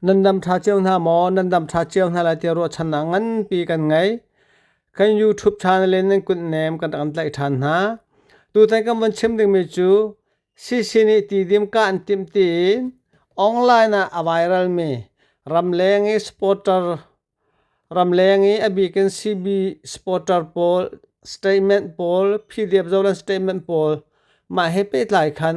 Nan dam ṭha cio hna maw? Nan dam ṭha cio hna lai tiah ruahchannak nganpi kan ngei. Kan YouTube channel in nan kutnem kan rak in tlaih ṭhan hna. Tutan kan von chim dingmi cu CC nih tidim kah an timh tiin online ah a viralmi ramleng i supporter ramleng i a bikin CB supporter pawl statement pawl PDF zohlan statement pawl mah he pehtlai khan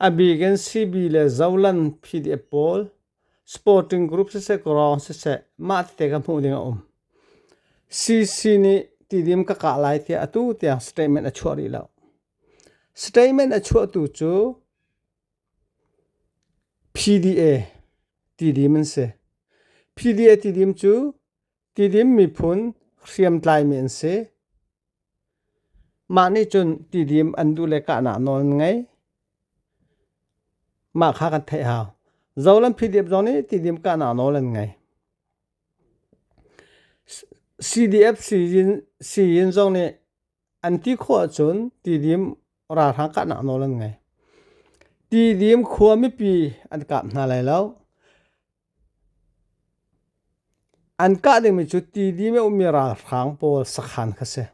Abik in CB le Zoland PDF pawl sporting group siseh kawrawng siseh mah tete ka hmuh ding a um. CC nih tidim ka kah lai tiah atu tiang statement a chuah rih lo. Statement a chuahtu cu PDA tidim an si. PDA tidim cu Tidim miphun hriamtlaimi an si. Mah nih cun tidim an duh le kahnak nawl an ngei. Mah kha kan theih hau. Zolam PDF zong nih tidim kahnak nawl an ngei. CDF sii-inn zong nih an ti khawh ahcun tidim ralhrang kahnak nawl an ngei. Tidim khua mipi an kap hna lai lo. An kah dingmi cu tidim i a ummi ralhrang pawl sakhan kha si.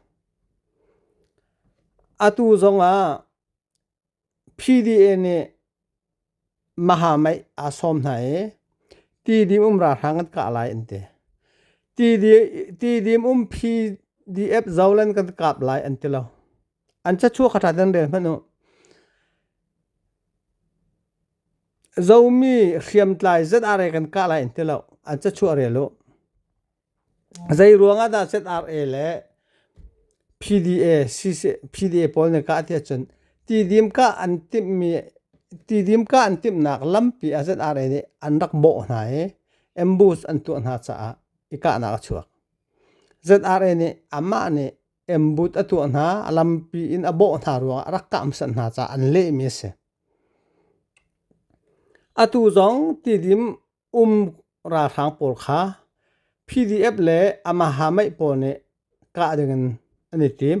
Atu zongah PDA nih mahamaih aa sawm hna i tidim um ralhrang an kah lai an ti. Tidim um PDF zolan kan kap lai an ti lo. an cachuak a ṭhat an rel hmanh u. Zomi hriamtlai zet are kan kah lai an ti lo. An cachuah rel u. Zei ruangah dah ZRA le PDA, PDA pawl nih kah ti ahcun tidim kah an timhmi tidim kah an timhnak lampi ah ZRA nih an rak bawh hna i ambush an tuah hna caah i kahnak a chuak. ZRA nih amah nih embut a tuah hna a lampi in a bawh hna ruangah a rak kahmsat hna caah an lehmi a si atu zong tidim um ralhrang pawl kha pdf le amaha mei pawl nih kah dingin an i tim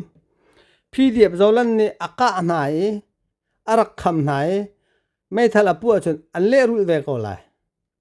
pdf zolan nih a kah hna i a rak kham hna i meithal a puh ahcun an lehrulh ve ko lai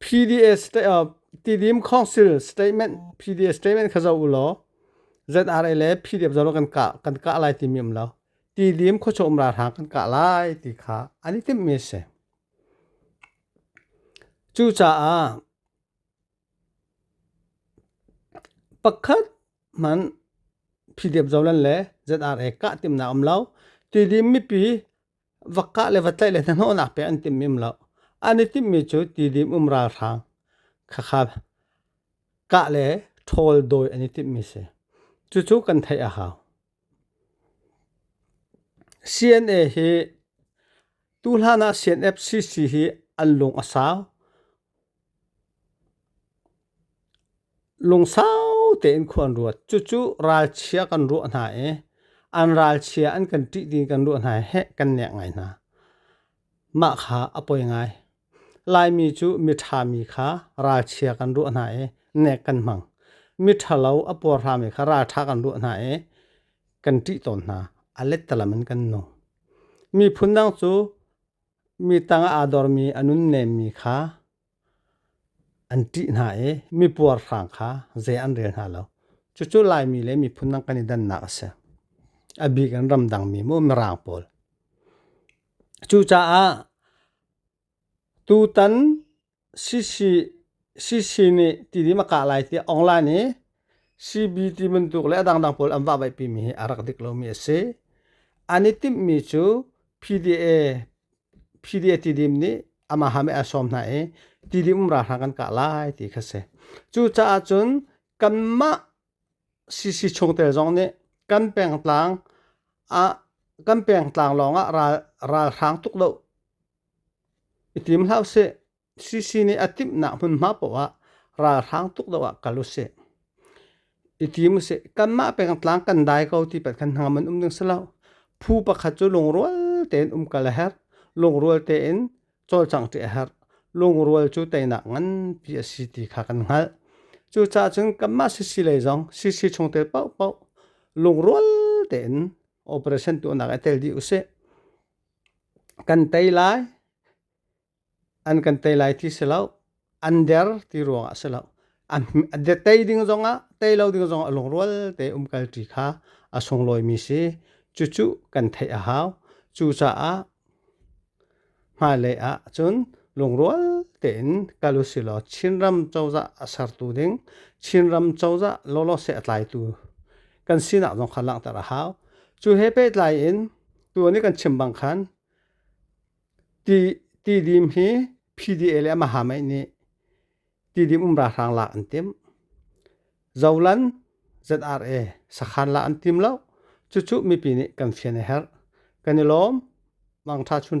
PDA Tidim Council statement PDA statement kha zoh u law ZRA le PDF zong kan kah kan kah lai timi um lo Tidim khuachawm ralhrang kan kah lai ti kha an i timhmi a si. Cucaah pakhat hmanh PDF zolan le ZRA kah timhnak um lo Tidim mipi va kah le va tlaih le hnahnawhnak pek an timh mim lo. An i timhmi cu tidim um ralhrang khakha kah le ṭhawl dawi an i timhmi si. Cucu kan theih a hau. CNA hi tu hlan ah CNFCC hi an lung a sau. Lungsau tein khua an ruat. Cucu ralchia kan ruah hna i an ralchia an kan ṭih dih i kan ruah hna i heh kan nek ngai hna. Mah kha a poi ngai. Laimi cu miṭha mi kha ralchia kan ruah hna i nek kan hmang. Miṭhalo a puarhrami kha ralṭha kan ruah hna i kan ṭih tawn hna. A let talam in kan nung. Miphun dang cu Mi tangah aa dormi a nunnemmi kha an ṭih hna i mi puarhrang kha zei an rel hna lo. Cucu Laimi le miphun dang kan i dannak a si. A bik in ramdangmi maw mirang pawl. Cucaah tutan CC nih tidim a kah lai tiah online i CB ti bantuk le a dangdang pawl an vahvaihpi mi hi a rak dik lomi a si. An i timhmi cu PDA, PDA tidim nih amaha mei a sawm hna i tidim um ralhrang kan kah lai ti kha si. Cucaah cun kanmah CC chungtel zong nih kan pengtlang ah kan pengtlang lawng ah ral, ralhrang tuk lo I tim hlah usih. CC nih a timhnak hmunhma paoh ah ralhrang tuk deuh ah kal usih. I tim usih. Kanmah pengtlang kan dai ko ti pat khan hnangam an um ding si lo. Phu pakhat cu lungrual tein um kal a herh. Lungrual tein cawlcang ṭih a herh. Lungrual cu teinak nganpi a si ti kha kan hngalh. Cucaah cun kanmah CC lei zong CC chungtel paohpaoh lungrual tein operation tuahnak ah tel dih usih. Kan tei lai, an kan tei lai ti si lo. An der ti ruangah si lo. A tei ding zongah, tei lo ding zongah lungrual te umkalṭi kha a sunglawimi si. Cucu kan theih a hau. Cucaah hmailei ah cun lungrual tein kal usilaw Chinram cozah a sertu ding, Chinram cozah lawlaw seh a tlaitu kan sinak zong kha langhter a hau. Cu he pehtlai in tu nih kan chim bang khan ti ti dim hi PDA le amaha mei nih ti dim umra hrang la an tim zolan ZRA sakhan la an tim lo cucu mipi nih kan fian a herh kan i lawm mangtha chun